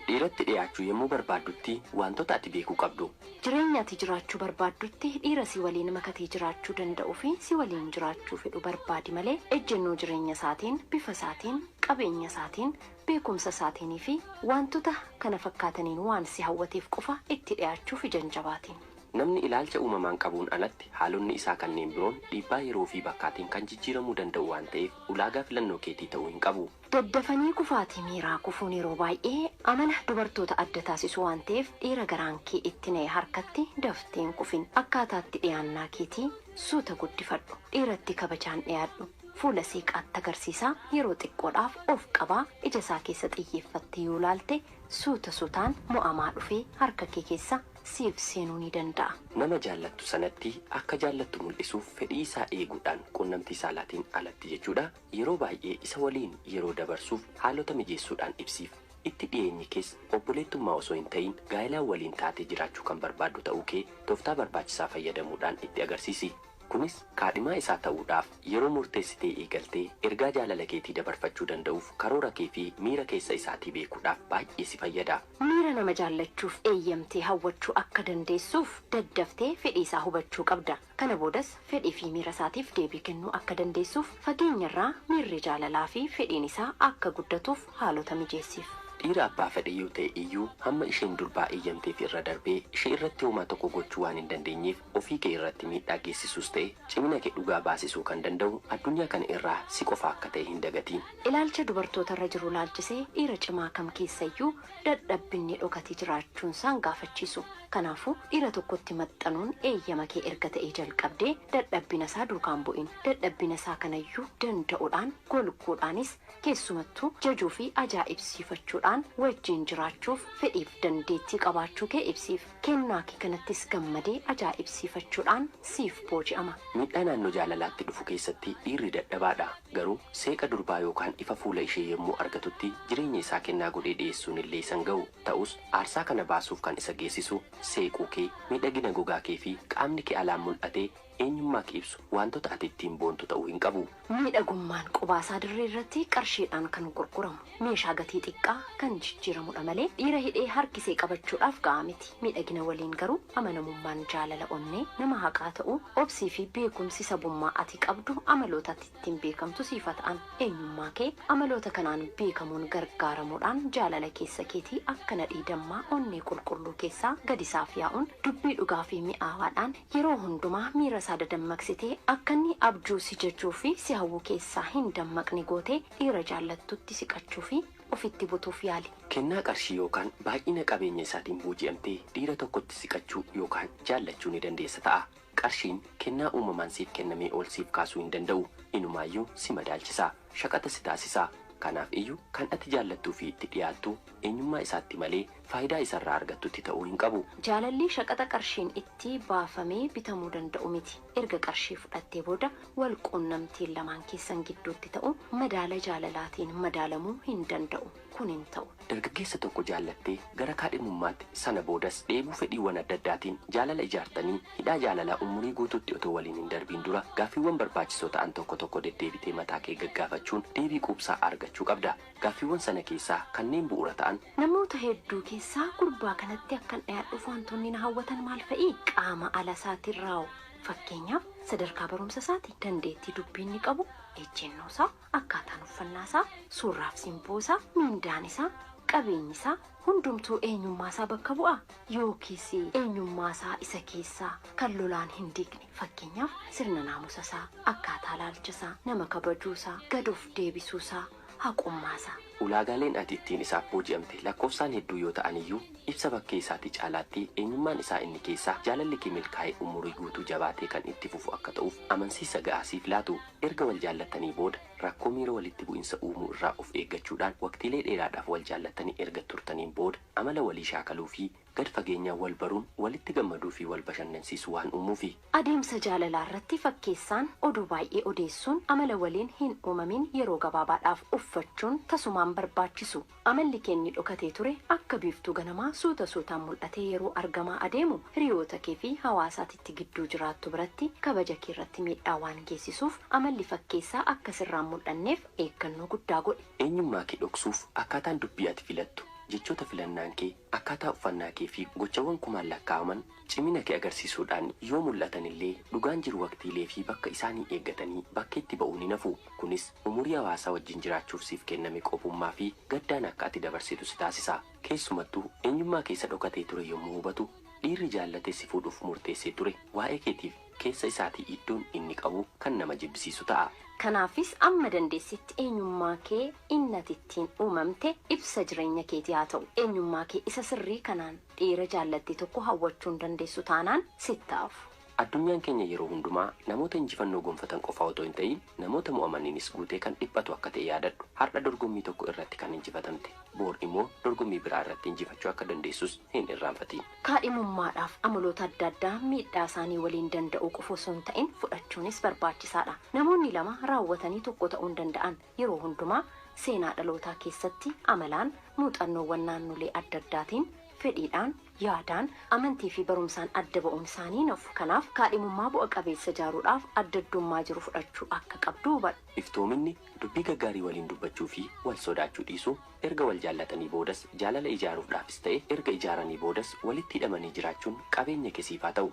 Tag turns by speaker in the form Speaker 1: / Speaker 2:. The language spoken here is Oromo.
Speaker 1: Dhiiratti dhiyaachuu yommuu barbaaddutti waantota ati beekuu qabdu. Jireenya ati jiraachuu
Speaker 2: barbaaddutti dhiira si waliin makatee jiraachuu danda'ufi si waliin jiraachuu fedhu barbaadi malee ejjennoo jireenya isaatiin, bifa isaatiin, qabeenya isaatiin, beekumsa isaatiin fi waantota kana fakkaataniin waan si hawwateef qofa itti dhiyaachuuf ija hin jabaatiin. Namni ilaalcha
Speaker 1: uumamaan qabuun alatti haalonni isaa kanneen biroon dhiibbaa yeroo fi bakkaatiin kan jijjiiramuu danda'u waan ta'eef ulaagaa filannoo keetii ta'uu hin qabu. Daddafanii kufaatii
Speaker 2: miiraa kufuun yeroo baay'ee amala dubartoota adda taasisu waan ta'eef dhiira garaan kee itti na'e harkatti daftee hin kufin. Akkaataa itti dhiyaannaa keetii suuta guddifadhu. Dhiiratti kabajaan dhiyaadhu. Fuula seeqaatti agarsiisaa yeroo xiqqoodhaaf of qabaa ija isaa keessa xiyyeeffattee yoo ilaalte suuta suutaan mo'amaa dhufee harka kee keessa siif seenuu ni danda'a. Nama jaallattu
Speaker 1: sanatti akka jaallattu mul'isuuf fedhii isaa eeguudhaan quunnamtii saalaatiin alatti jechuudha Yeroo baay'ee isa waliin yeroo dabarsuuf haalota mijeessuudhaan ibsiif. Itti dhiyeenyi kees obboleettummaa osoo hin ta'in gaa'elaan waliin taatee jiraachuu kan barbaaddu ta'uu kee tooftaa barbaachisaa fayyadamuudhaan itti agarsiisi. Kunis kaadhimaa isaa ta'uudhaaf yeroo murteessitee eegaltee ergaa jaalala keetii dabarfachuu danda'uuf karoora kee fi miira keessa isaatii beekuudhaaf baay'ee si fayyada. Miira nama
Speaker 2: jaallachuuf eeyyamtee hawwachuu akka dandeessuuf daddaftee fedhii isaa hubachuu qabda. Kana boodas fedhii fi miira isaatiif deebii kennuu akka dandeessuuf fageenyarraa miirri jaalalaa fi fedhiin isaa akka guddatuuf haalota mijeessiif. Dhiira abbaa fedhe
Speaker 1: yoo ta'e iyyuu hamma isheen durbaa eeyyamteef irra darbee ishee irratti homaa tokko gochuu waan hin dandeenyeef ofii kee irratti miidhaa geessisuus ta'e cimina kee dhugaa baasisuu kan danda'u addunyaa kana irraa si qofa akka ta'e hin dagatiin. Ilaalcha dubartoota
Speaker 2: irra jiru ilaalchisee dhiira cimaa kam keessa iyyuu dadhabbinni dhokate jiraachuunsaan gaafachiisu. Kanaafuu, dhiira tokkotti maxxanuun eeyyama kee erga ta'ee jalqabdee dadhabbinasaa duukaa hin bu'in. Dadhabbinasaa kanayyuu danda'udhaan, golguudhaanis, keessumattuu jajuufi ajaa'ibsiifachuudhaan wajjin jiraachuuf fedhiif dandeettii qabaachuu kee ibsiif. Kennaa kee kanattis gammadee ajaa'ibsiifachuudhaan siif booji'ama. Miidhaa naannoo
Speaker 1: jaalalaatti dhufu keessatti dhiirri dadhabaadha. Garuu seeqa durbaa yookaan ifa fuula ishee yommuu argatutti jireenya isaa kennaa godhee dhiyeessuun illee isa hin ga'u. Ta'us, aarsaa kana baasuuf kan isa geessisu seequu kee, miidhagina gogaa kee fi qaamni kee alaan mul'ate Eenyummaa kee ibsu waantota ati ittiin boontu ta'uu hin qabu. Miidhagummaan
Speaker 2: qubaasaa dirree irratti qarshiidhaan kan gurguramu, meeshaa gatii xiqqaa kan jijjiiramudha malee dhiira hidhee harkisee qabachuudhaaf ga'aa miti. Miidhagina waliin garuu amanamummaan jaalala onnee, nama haqaa ta'uu, obsii fi beekumsi sabummaa ati qabdu amaloota ati ittiin beekamtu siif haa ta'an. Eenyummaa kee amaloota kanaan beekamuun gargaaramuudhaan jaalala keessa keetii akka nadhii dammaa onnee qulqulluu keessaa gadi saaf yaa'uun dubbii dhugaa fi mi'aawaadhaan Yeroo hundumaa miira isaa dadammaqsitee akka inni abjuu si jajuu fi si hawwu keessaa hin dammaqne gootee dhiira jaallattutti siqachuu fi ofitti butuuf yaali. Kennaa qarshii yookaan
Speaker 1: baay'ina qabeenya isaatiin booji'amtee dhiira tokkotti siqachuu yookaan jaallachuu ni dandeessa ta'a. Qarshiin kennaa uumamaan siif kennamee ol siif kaasuu hin danda'u, inumaayyuu si madaalchisa. shaqaxa si taasisa. Kanaaf iyyu kan ati jaallattuu fi itti dhiyaattu eenyummaa isaatti malee faayidaa isa irraa argattutti ta'uu hin qabu. Jaalalli shaqaxa
Speaker 2: qarshiin itti baafamee bitamuu danda'u miti. Erga qarshii fudhattee booda wal quunnamtiin lamaan keessan gidduutti ta'u madaala jaalalaatiin madaalamuu hin danda'u. Kun hin ta'u. Dargaggeessa tokko
Speaker 1: jaallattee gara kaadhimummaatti, sana boodas dheebuu fedhiiwwan adda addaatiin jaalala ijaartanii, hidhaa jaalalaa umurii guutuutti otoo waliin hin darbiin dura gaaffiiwwan barbaachisoo ta'an tokko tokko deddeebitee mataa kee gaggaafachuun deebii quubsaa argachuu qabda. Gaaffiiwwan sana keessaa kanneen bu'uura ta'an. Namoota hedduu
Speaker 2: keessaa gurbaa kanatti akkan dhiyaadhuuf wantoonni na hawwatan maal fa'i? Qaama ala isaatiin raaww. Fakkeenyaaf, sadarkaa barumsa isaati, dandeettii dubbii inni qabu, ejjennoo isaa. Akkaataan uffannaa isaa, suurraaf simboo isaa, mindaan isaa, qabeenyi isaa hundumtuu eenyummaa isaa bakka bu'aa? Yookiis eenyummaa isaa isa keessaa kan lolaan hin diigne, fakkeenyaaf sirna naamusa isaa, akkaataa ilaalcha isaa, nama kabajuu isaa, gad of deebisuu isaa, haqummaa isaa. Ulaagaaleen ati ittiin
Speaker 1: isaaf booji'amte lakkoofsaan hedduu yoo ta'an iyyuu, ibsa bakkee isaatii caalaatti eenyummaan isaa inni keessaa jaalalli kee milkaa'ee umurii guutuu jabaatee kan itti fufu akka ta'uuf amansiisa ga'aa siif laatu. Erga wal jaallattanii booda rakkoo miira walitti bu'insa uumuu irraa of eeggachuudhaan waqtiilee dheeraadhaaf wal jaallattanii erga turtaniin booda amala walii shaakaluu fi gad fageenyaan wal baruun walitti gammaduu fi wal bashannansiisu waan uumuufi. Adeemsa jaalalaa
Speaker 2: irratti fakkeessaan oduu baay'ee odeessuun amala waliin hin uumamin yeroo gabaabaadhaaf uffachuun tasumaan barbaachisu. Amalli kee inni dhokatee ture akka biiftuu ganamaa suuta suutaan mul'atee yeroo argamaa adeemu hiriyoota kee fi hawaasa ati itti gidduu jiraattu biratti kabaja kee irratti miidhaa waan geessisuuf amalli fakkeessaa akka sirraa hin mul'anneef eeggannoo guddaa godhi. Eenyummaa
Speaker 1: kee
Speaker 2: dhoksuuf
Speaker 1: akkaataan dubbii ati
Speaker 2: filattu,
Speaker 1: jechoota filannaan kee, akkaataa uffannaa kee fi gochawwan kumaan lakkaa'aman, Cimina kee agarsiisuudhaan yoo mul'atan illee, dhugaan jiru waqtiilee fi bakka isaanii eeggatanii bakkeetti ba'uun hin hafu. Kunis umurii hawaasaa wajjin jiraachuuf siif kenname qophummaa fi gaddaan akka ati dabarsitu si taasisa. Keessumattuu, eenyummaa kee isa dhokatee ture yommuu hubatu, dhiirri jaallatee si fuudhuuf murteessee ture waa'ee keetiif keessa isaatii iddoon inni qabu kan nama jibbisiisu ta'a. Kanaafis amma
Speaker 2: dandeessetti eenyummaa kee inni ati ittiin uumamte ibsa jireenya keetii haa ta'u. Eenyummaa kee isa sirrii kanaan Dhiira jaallatte tokko hawwachuu hin dandeessu taanaan sitti hafu. Addunyaan keenya
Speaker 1: yeroo hundumaa namoota injifannoo gonfatan qofaa otoo hin ta'iin namoota mo'amaniinis guutee kan dhiphatu akka ta'e yaadadhu. Har'a dorgommii tokko irratti kan injifatamte, boor immoo dorgommii biraa irratti injifachuu akka dandeessus hin irraanfatiin. Kaadhimummaadhaaf
Speaker 2: amaloota adda addaa miidhaa isaanii waliin danda'uu qofa osoo hin ta'in fudhachuunis barbaachisaadha. Namoonni lama raawwatanii tokko ta'uu hin danda'an. Yeroo hundumaa seenaa dhalootaa keessatti amalaan, muuxannoowwan naannolee adda addaatiin, fedhiidhaan, yaadaan, amantii fi barumsaan adda ba'uun isaanii hin hafu. Kanaaf, kaadhimummaa bu'a qabeessa ijaaruudhaaf adda addummaa jiru fudhachuu akka qabdu hubadhu. Iftoominni, dubbii
Speaker 1: gaggaarii waliin dubbachuu fi wal sodaachuu dhiisuu, erga wal jaallatanii boodas jaalala ijaaruufdhaafis ta'e erga ijaaranii boodas walitti hidhamanii jiraachuun qabeenya ke siif haa ta'u.